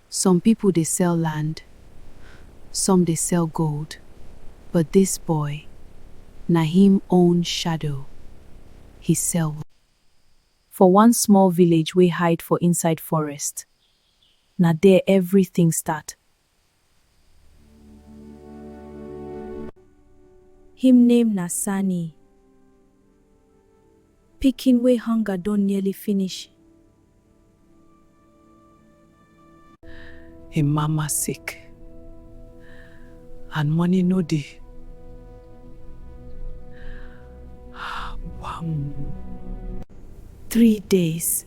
Some people dey sell land, some dey sell gold, but this boy na him own shadow he sell. For one small village wey hide for inside forest, na there everything start. Him name na Sani. Pikin wey hunger don nearly finish. Him mama sick and money no dey. Wham! Three days.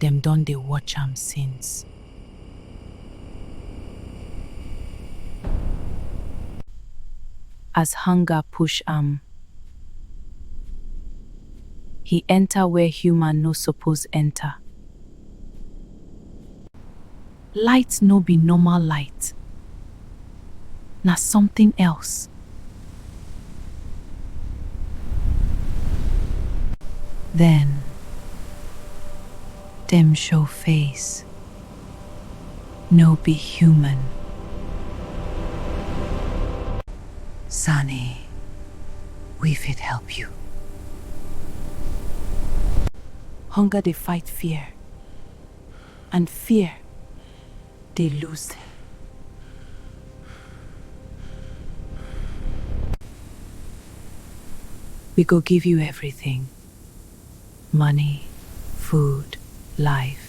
dem don dey watch am since. As hunger push am, he enter where human no suppose enter. Light no be normal light, na something else. Then dem show face, no be human. Sani, we fit help you. Hunger dey fight fear, and fear dey lose dem. We go give you everything, money, food, life.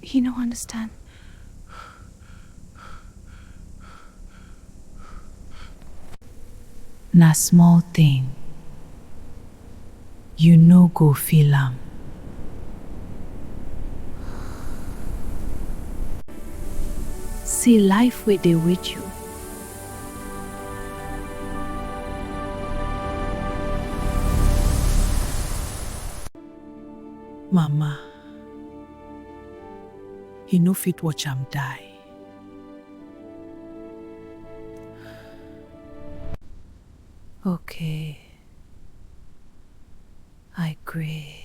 He no understand. Na small thing. You no go feel am. See life wey dey wait you. Mama, he no fit watch am die. Okay, I gree.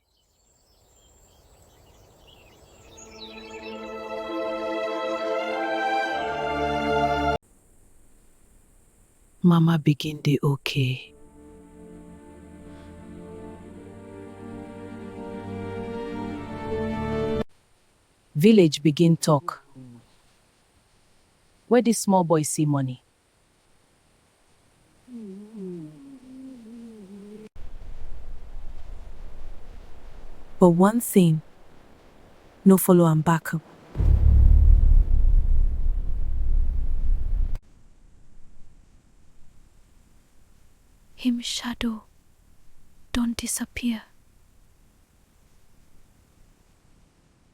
Mama begin dey okay. Village begin talk. Where this small boy see money? But one thing no follow am back up. Him shadow don disappear.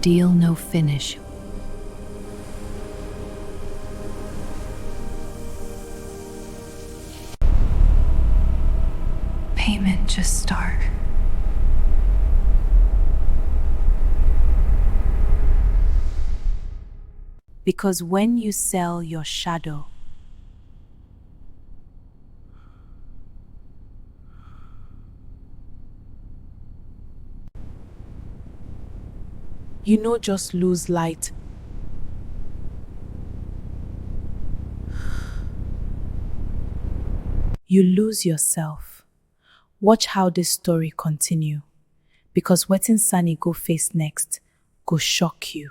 Deal no finish. Payment just start. Because when you sell your shadow, You no just lose light. You lose yourself. Watch how this story continue because wetin Sani go face next go shock you.